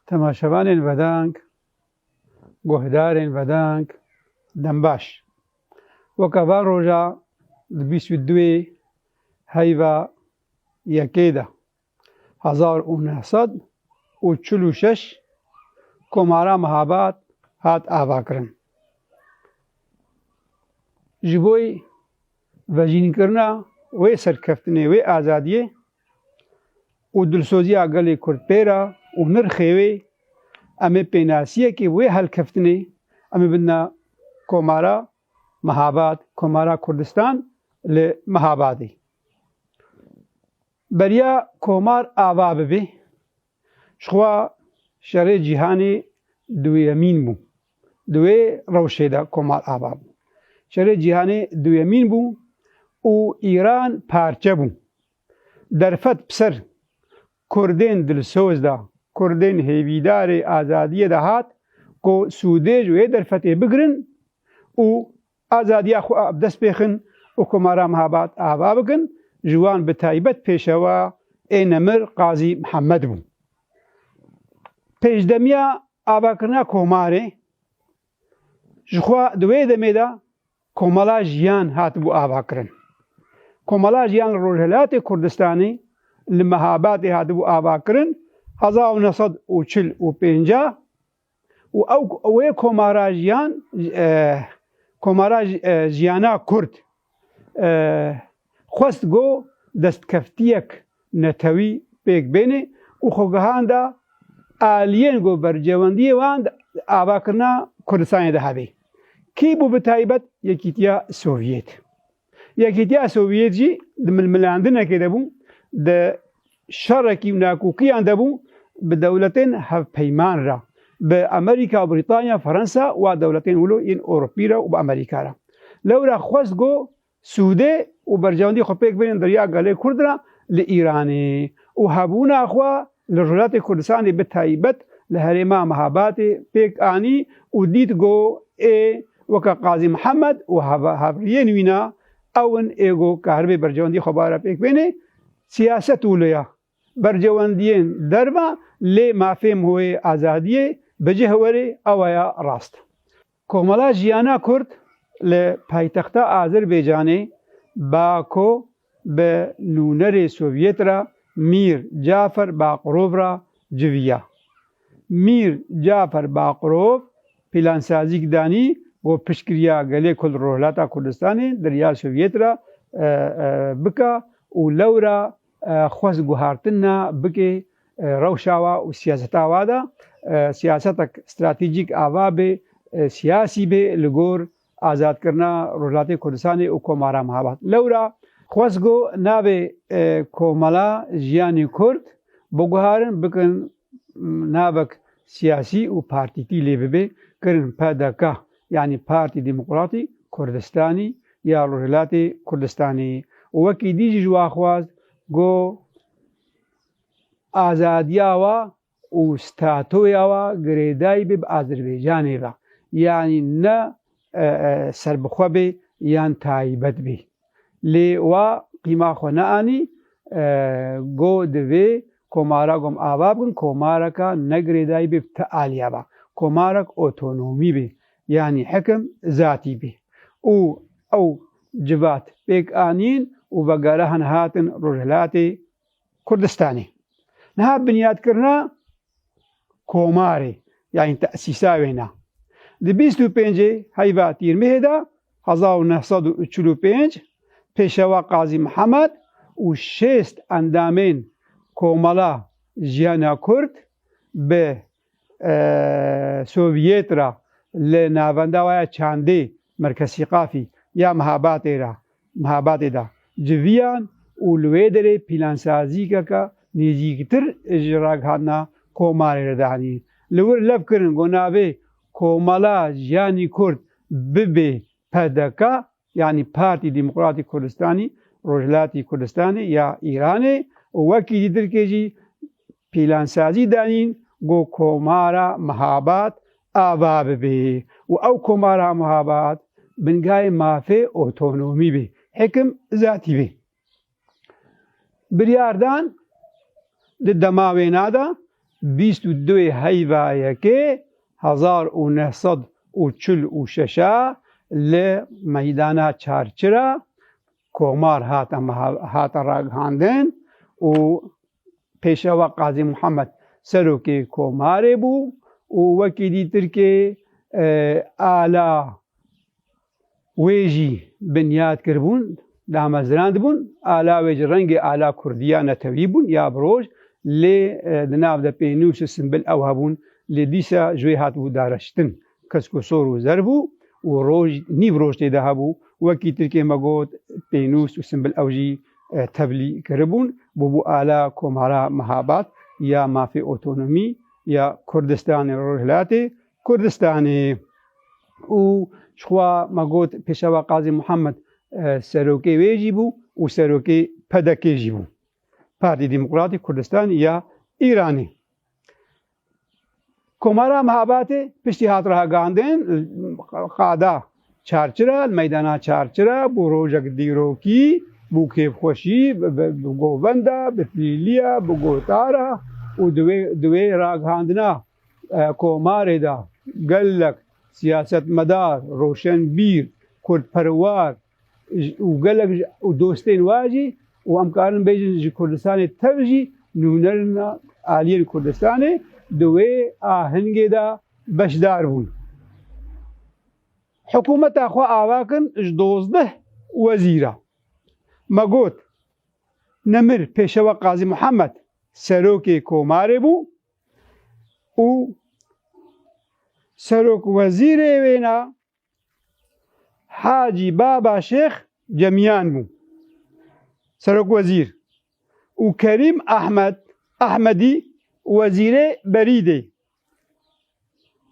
Temaşevanên vedang, guhdarên vedang, dembaş. Weka van roja di bîst û duê heyva yekê de hezar û neh sed û çil û şeş Komara Mihabat hat avakirin. Ji bo vejînkirina wê serkeftinê, wê azadiyê û dilsoziya gelê Kurd pê re û nirxê wê, em ê pênasiyekê wê helkeftinê em ê bidina Komara Mehabad, Komara Kurdistan li Mehabadê. Beriya komar ava bibê. Jixwe şerê cîhanê duyemîn bû. Di wê rewşê de Komar ava bû. Şerê cîhanê duyemîn bû û Îran parçe bû. Derfet bi ser Kurdên dilsoz de, Kurdên hêvîdarê azadiyê de hat ku sûdêj wê derfetê bigirin û Azadiya xwe a bi dest bêxin û komara Mehabat ava bikin, ji wan bi taybet pêşewa ê nemir Qazî Mihemed bû. Pêşdemiya avakirina komarê ji xwe di wê demê de Komala Jiyan hatibû avakirin. Komala Jiyan li Rojhilatê Kurdistanê li Mehabatê hatibû avakirin hezar û neh sed û çil û pênc a. Û ew wê komara jiyan komara jiyana kurd xwest ku destkeftiyek netewî pêk bêne û xwe gihanda aliyên ku bercewendiyê wan di avakirina Kurdistanê de hebê. Kî bû bi taybet Yekîtiya Sovyêt. Yekîtiya Sovyet jî di milmilandinekê de bû, di şerekî û nakokîyan de bû bi dewletên hevpeyman re, bi Amerîka, Brîtanya, Fransa û a dewletên wilo yên Ewropî re û bi Amerîka re. Lewra xwest ku sûdê û berjewendî xwe pêk bêne derya gelê Kurd re li Îranê û hebûna xwe li Rojhilatê Kurdistanê bi taybet li herêma Mehabatê pêk anî û dît ku ê weke Qazî Mihemed û havriyên wî ne ew in ê ku kahribê berjewendî xwebar e pêk bêne. Siyaset û loya berjewendiyên derve lê mafê mûyê azadiyê bi cih were ew aya rast. Komela Jiyana Kurd li paytexta Azerbaycanê, Bako, bi nûnerê Sovyet re Mîr Cafer Baqrov re civiya. Mîr Cafer Baqrov plansazîk danî û piştgiriya gelê ku li Rojhilata Kurdistanê di riya Sovyet re bike û lewra Xwest guhartina bike rewşa wa û siyaseta wa de, siyasetek stratejîk ava bê, siyasî bê li gor azadkirina Rojhilatê Kurdistanê û Komara Mehabat. Lewra xwest got navê Komela Jiyanê Kurd biguharin, bikin navek siyasî û partîtî lê bibe, kirin pdk. yanî Partî Demokratî Kurdistanî ya Rojhilatê Kurdistanê û wekî dî jî ji wan xwest ku azadiya wa û statoya wa girêdayî bê bi Azerbaycanê ve, yanî ne serbixwe bê yan taybet bê. Lê wa qîma xwe neanî go divê komara gom ava bikin komareka ne girêdayî bê bi ti aliya be. Komarek otonomî bê yanî hikim zatî bê û ew civat pêk anîn û vegerihin hatin Rojhilatê Kurdistanê. Niha binyadkirina komarê yanî tesîsa wê ne. Di bîst û pêncê heyva Tîrmihê de hezar û neh sed û çil û pênc Pêşewa Qazî Mihemed û şêst endamên Komela Jiyana Kurd bi Sovyêt re li navenda we ya çandê Merkezsîqafî ya Mihabatê ra Mihabatê da civiyan û li wê derê pîlansazîkeke nêzîktir ji ragihandina Komarê re dihenî. Li wir lev kirin ku navê Komala Jiyanî Kurd bibe pdk yanî Partî Demokratî Kurdistanî Rojhilatî Kurdistanê ya Îranê û wekî dîtirkê jî Pîlansazî danîn ku Komara Mihabat ava bibe û ew Komara Mihabat bingayê mafê otonomî bê, hikim zatî bê. Biryar dan di dema wêna de bîst û du yê heyva yekê hezar û neh sed û çil û şeş a li Meydana Çarçira Komar hate ragihandin û Pêşewa Qazî Muhammed serokê komarê bû û wekî dîtirkê ala wê jî binyat kiribûn, damezrandbûn. Ala wê ji rengê ala kurdî ya netewî bûn ya bi roj lê di nav de pênûs û simbil ew hebûn lê dîsa ji wê hatibû dareştin. Kesko sor û zer bû û roj nîv roj tê de hebû. Wekî tirkê me got, pênûs û simbil ew jî tevlî kiribûn. Bûbû ala Komara Mehabat ya Mafê Otonomî ya Kurdistanê Rojhilatê Kurdistanê û ji xwe me got Pêşewa Qazî Muhammed serokê wê jî bû û serokê PDK'ê jî bû, Partî Demokratî Kurdistanî ya Îranê. Komara Mehabatê piştî hat ragihandin qada çarçira li meydana çarçira bû rojek dîrokî, bû kêfxweşî, bi govenda, bi tilîliya, bi gotara û di wê ragihandina komarê de gelek siyasetmedar, roşenbîr, kurdperwar, û gelek û dostên we jî û em karin bêjin ji Kurdistanê tev jî nûnerina aliyên Kurdistanê di wê ahengê de beşdar bûn. Hikûmeta xwe ava kin ji dozdeh wezîra. Me got, Nemir Pêşewa Qazî Muhemed serokê komarê bû û serokwezîrê wêna Hacî Baba Şêx Cemiyan bû serokwezîr û Kerîm Ehmed Ehmedî wezîrê berîdê.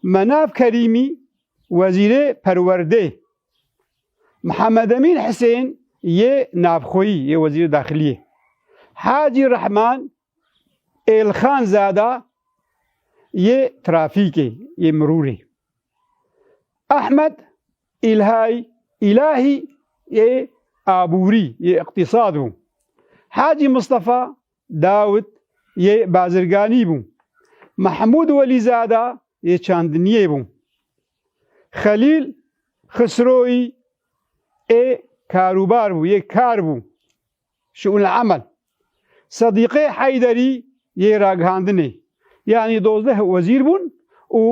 Menav Kerîmî wezîrê perwerdê. Mihemedemin Hisên yê navxweyî yê wezîrê daxiliyê. Hacî Rehman Elxan Zada yê trafîkê yê mirûrê, Ehmed Îlhay Îlahî yê abûrî yê îqtîsad bû, Hacî Mistefa Dawid yê bazirganî bû, Mehmûd Welî Zada yê çandiniyê bû, Xelîl Xisroyî ê karûbar bû yê kar bû. Şû'ul Emel Sedîqê Heyderî yê ragihandinê, yanî dozdeh wezîr bûn û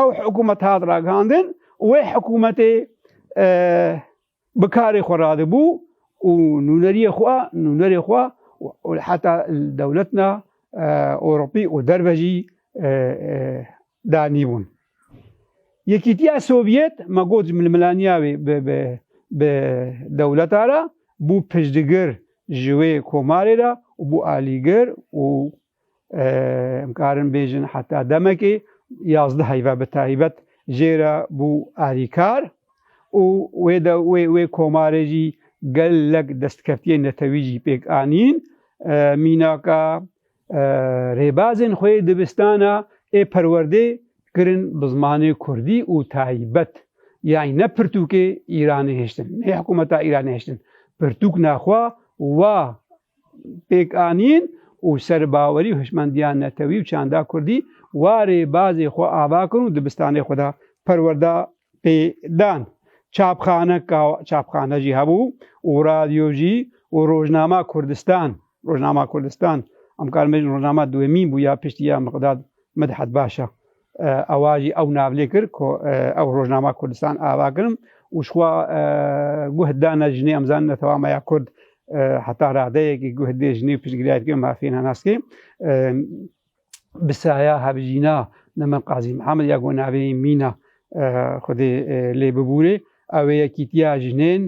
ew hikûmet hat ragihandin û wê hikûmetê bi karê xwe radibû û nûneriyê xwe, nûnerê xwe û heta li dewletna Ewropî û derve jî Danîbûn. Yekîtiya Sovyet me got ji milmilaniya wê bi dewleta re bû piştgir ji wê komarê re û bû alîgir û em karin bêjin heta demekê yazdeh heyva bi taybet jê re bû alîkar û wê de wê wê komarê jî gelek destkeftiyên netewî jî pêk anîn. Mînaka Rêbazên xwe yê dibistana ê perwerdê kirin bi zimanê kurdî û taybet yanî ne pirtûkê Îranê hiştin, ne hikûmeta Îranê hiştin. Pirtûk ne xwe wa pêk anîn û serbawerî û hişmendiya netewî û çanda kurdî wa rêbazê xwe ava kirin û dibistanê xwe da perwerda pê dan. Çapxane ka çapxane jî hebû û radyo jî û rojnama Kurdistan. Rojnama Kurdistan em karin bêjin rojnama duwemîn bû ya piştî ya Miqdad Midhat Başa. Ewa jî ew navlê kir ku ew rojnama Kurdistan ava kirin û şixwa guh dane jinê em zanine tewama ya Kurd heta radeyekî guh dê jinê piştgiriyayê dike mafiyê nenaskê. bi saya hevjîna li min Qazî Mihemed ya ku navê Mîna Xwedê lê bibûrê ew ê yekîtiya jinên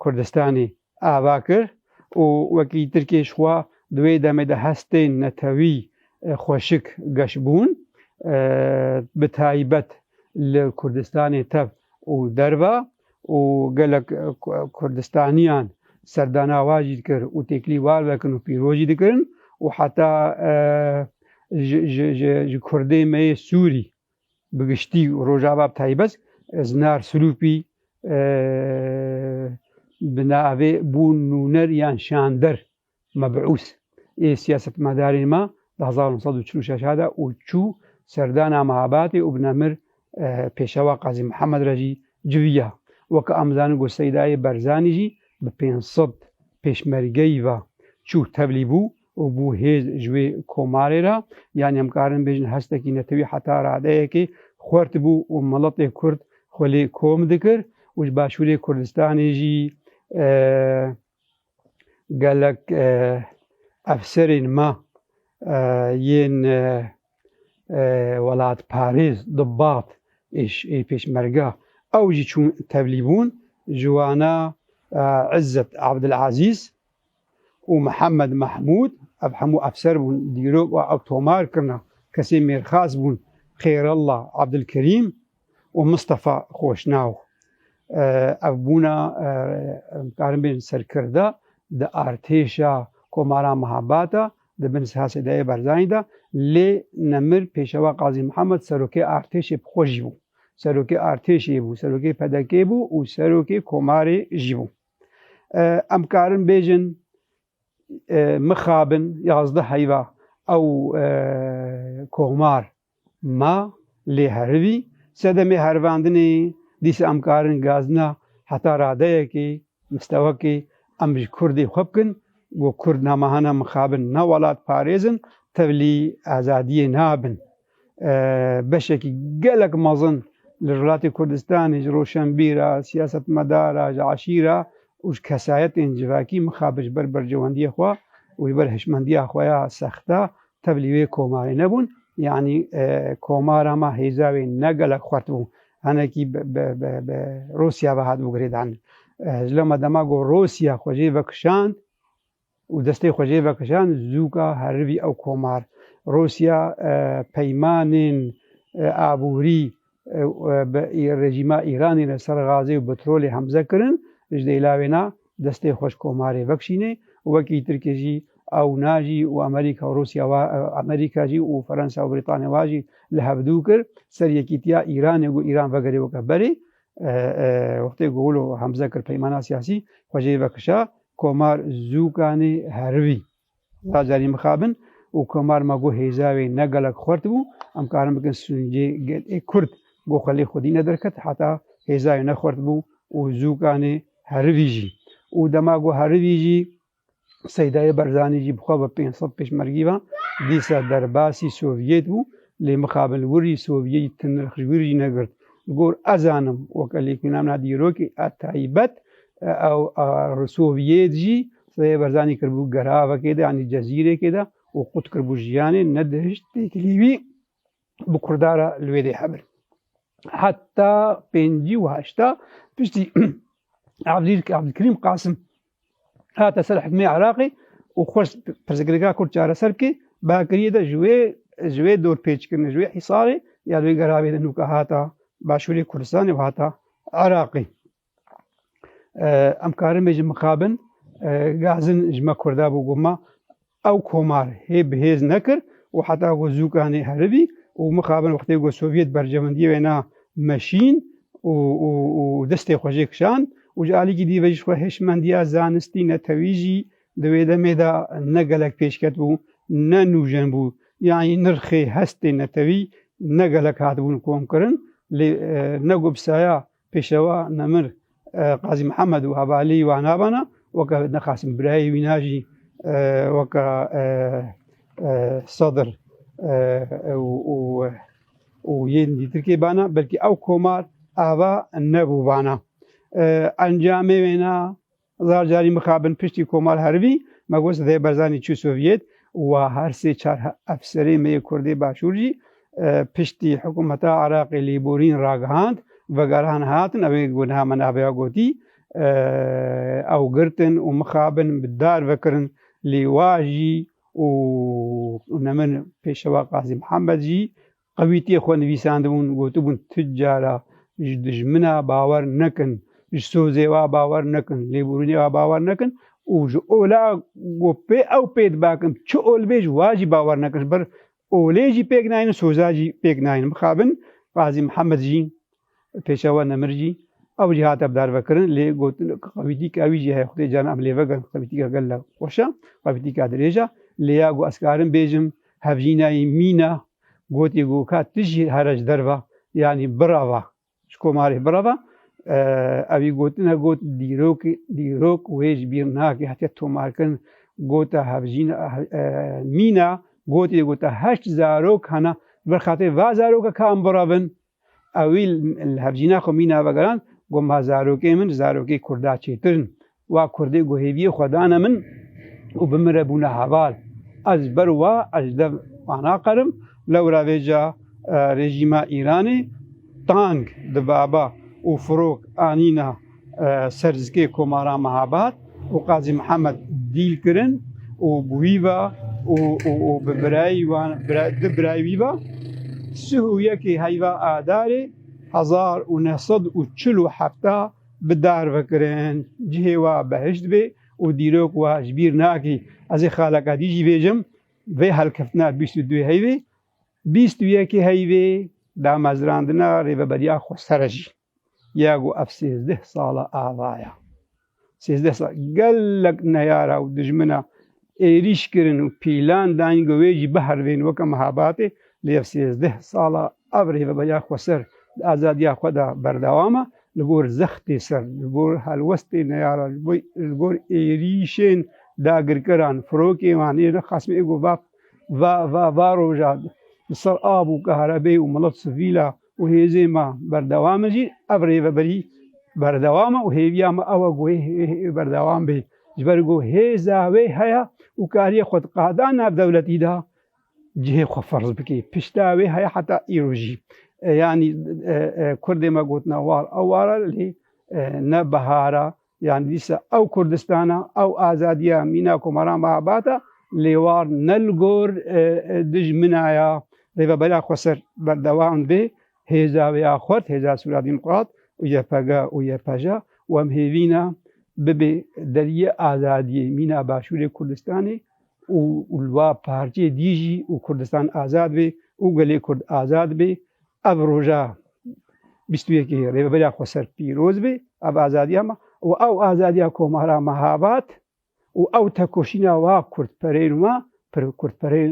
Kurdistanê ava kir û wekî Tirkê ji xwe di wê demê de hestên netewî xweşik geş bûn bi taybet li Kurdistanê tev û derve. û gelek Kurdistaniyan serdana wan jî dikir û têkilî wan vekin û pîroz jî dikirin û heta ji Kurdê me yê Sûrî bi giştî û Rojava bi taybet Zinar Sirûpî bi navê bûn nûner yan şander Mebûs ê siyasetmedarên me di hezar û neh sed û çil û şeş hat e û çû serdana Mehabatê û bi nemir Pêşewa Qazî Mihemed re jî civiya. Weke em dizanin ku Seydayê Berzanî jî bi pênc sed pêşmergeyî ve çû tevlî bû û bû hêz ji wê komarê re. Yanî em karin bêjin hestekî netewî heta radeyekê xwert bû û miletê Kurd xwe lê kom dikir û ji Başûrê Kurdistanê jî Gelek efserên me yên welatparêz di bad ê Pêşmerge ew jî çûn tevlî bûn ji wana Izzet Abdulazîz û Mihemed Mehmûd ev hemû efser bûn dîrok ew tomar kirine kesên mêrxas bûn Xêrallah Abdulkerîm û Mistefa Xoşnaw. Ev bûna karin bên serkirda di artêşa Komara Mehabat a di bin siha Sedayê Barzanî de lê nemir Pêşewa Qazî Mihemed serokê artêşê bi xwe jî bû. Serokê artêşê bû, serokê PDK bû û serokê Komarê jî bû. Em karin bêjin mixabin yazdeh heyva ew Komar Ma lê herivî sedemê herivandinê dîsa em karin gazina heta radeyekê mistewakê em ji kurdê xwe bikin ku kurd namahana mixabin nav welat parêzin tevlî azadiyê nabin. Beşekî gelek mezin li rilatê Kurdistanê ji roşenbîr a, siyasetmedar a, ji eşîr a û ji kesayetên civakî mixabin ji ber berjewendiyê xwe û ji ber hişmendiya xwe ya sext a Tev li wê komarê nebûn, yanî komara me hêza wê ne gelek xurt bû. Hinekî bi Rûsya ve hatibû girêdan. Ji loma dema ku Rûsya xwe jê vekişand û destê xwe jê vekişand, zûka herivî ew komar. Rûsya peymanên aborî bi rejîma Îranê re ser gazê û petrolê hemze kirin, ji dêla wê na destê xwe ji komarê vekişînê û wekî Tirkê jî ew na jî û Amerîka û Rûsya wa Amerîka jî û Ferensa û Brîtanya wa jî li hev dû kir ser yekîtiya Îranê ku Îran vegerê weke berê wextê ku wilo hemze kir peymana siyasî xwe jê vekişa komar zûkanê herivî. Lazerî mixabin û komar ma got hêza wê ne gelek xurt bû, em karin bikin sûncê gel ê kurd got xwe lê xwedî nederket heta hêza wê ne xurt bû û zûkanê herivî jî û dema got herivî jî Seydayê Berzanî jî bi xwe ve pênc sed pêşmergî ve dîsa derbasî Sovyet bû lê mixabin li wir jî Sovyetî ti nirx ji wir jî negirt. Li gor ez zanim weke lêkolîna min a dîrokê a taybet ew a Sovyet jî Seyê Barzanî kiribû geravekê de yanî cezîrêkê de û qut kiribû jiyanê nedihişt têkilî wî bi Kurda re li wê dê hebir. Heta pêncî û heşta piştî Abdülkerim Kasım hate ser hikmê Iraqê û xwest pirsgirêka Kurd çareser bike bakiriyê de ji wê ji wê dorpêçkirin ji wê hîsarê ya wê geravê de nûka hata Başûrê Kurdistanê û hata Iraqê. Em karin bê ji mixabin gazin ji me Kurda bû ku ma ew komar hê bi hêz nekir û heta ku zûkanê heribî û mixabin wextê ku Sovyet berjewendiyê wêna meşîn û û û destê xwe jê kişand û ji alîkî dî ve jî xwe hêşmendiya zanistî netewî jî di wê demê de ne gelek pêşket bû ne nûjen bû yanî nirxê hestê netewî ne gelek hatibûn komkirin lê ne ku bi saya Pêşewa Nemir Qazî Mihemed û hevalî wan navana weke ne Qasim birayê wî na jî weke Sedir û yên dîtirkê bana belkî ew komar ava nebû bana. Encamê wê na Zar carî mixabin piştî Komal Hervî, Mebûs Zey Barzanî çû Sovyet û her sê çar efserê me yê Kurdê Başûr jî piştî hikûmeta Iraqê lêborîn ragihand, vegerhan hatin ew ê ku niha me navêya gotî ew girtin û mixabin bi dar vekirin lê wa jî û ne min Pêşewa Qazî Mihemed jî Qewîtiyê xwe nivîsandibûn, gotibûn tu cara ji dijmina bawer nekin, ji sozê wa bawer nekin, lêborînê wa bawer nekin û ji ola ku pê ew pê dibakin çi ol bê ji wa jî bawer nekin. Ji ber olê jî pêk nayînin, soza jî pêk nayînin. Mixabin Qazî Mihemed jî. Pêşewa Nemir jî ew jî hate bidarvekirin lê got qevîtîka wî jî heye xwedê caran em lêvegirin qevîtîka gella xweş e, qevîtîka dirêj e lê ya got ez karin bêjim hevjînayî mîn e gotî got ka tu jî here ji derve yanî birava ji komarê birava ewî gotine got dîrok dîrok wê ji bîr nake hatiye tomarkirin gota hevjîn mîna gotî gota heşt zarok hena bi xatirê va zaroka ka em biravin Ewî li hevjîna xwe mîna vegerand, got, Ma zarokên min zarokê kurda çêtir in. Wa kurdê ku hêviyê xwe dane min û bi min re bûne heval. Ez ji ber wa ez ji dev wan naqerim. Lewra vê ca rejîma Îranê tang di baba û firok anîna Serzikê Komara Mehabat û Qazî Mihemed dîl kirin û bi wî ve û û bi birayî wan di birayî wî ve sih û yekê heyva Adarê hezar û neh sed û çil û hefta bi dar ve kirin. Cihê we behişt bê û dîrok we ji bîr nakî. Ez ê xaleka dî jî bêjim vê helkeftina bîst û duê heyvê, bîst û yekê heyvê damezrandina Rêveberiya Xweser e jî. Ya ku ev sêzdeh sala ava ya. Sêzdeh sal gelek neyara û dijmina êrîş kirin û pîlan dayîn ku wê jî biherivîn weke mihebatê lê ev sêzdeh sala ev rêveberiya xweser di azadiya xwe de berdewam e li gor zextê ser, li gor helwestê neyaran, li gor êrîşên dagirkeran, firokên wan ê nexasm ê ku va va va roja li ser av û karebê û milet sivîl a. û hêzên me berdewam in jî ev rêveberî berdewam e û hêviya me ew e ku wê berdewam bê ji ber ku hêza wê heye û kariye xwe di qada navdewletî de cihê xwe ferz bike. Pişta wê heye heta îro jî. Yanî kurdê me gotina war eware lê ne bihara Yan dîsa ew Kurdistana, ew azadiya mîna Komaran Mehabat a lê war ne li gor dijmina ya Rêveberiya Xweser berdewam bê. Hêza wê ya xurt, Hêza Sûra Dîmokrat û YPG û YPJ a û em hêvîna bibe deriyê azadiyê mîna Başûrê Kurdistanê û li va parçeyê dî jî û Kurdistan azad bê û gelê Kurd azad bê. Ev roja bîst û yekê Rêveberiya Xweser pîroz bê, ev azadiya me û ew azadiya komara Mehabat û ew tekoşîna wa kurdpereyên we pir kurdpereyên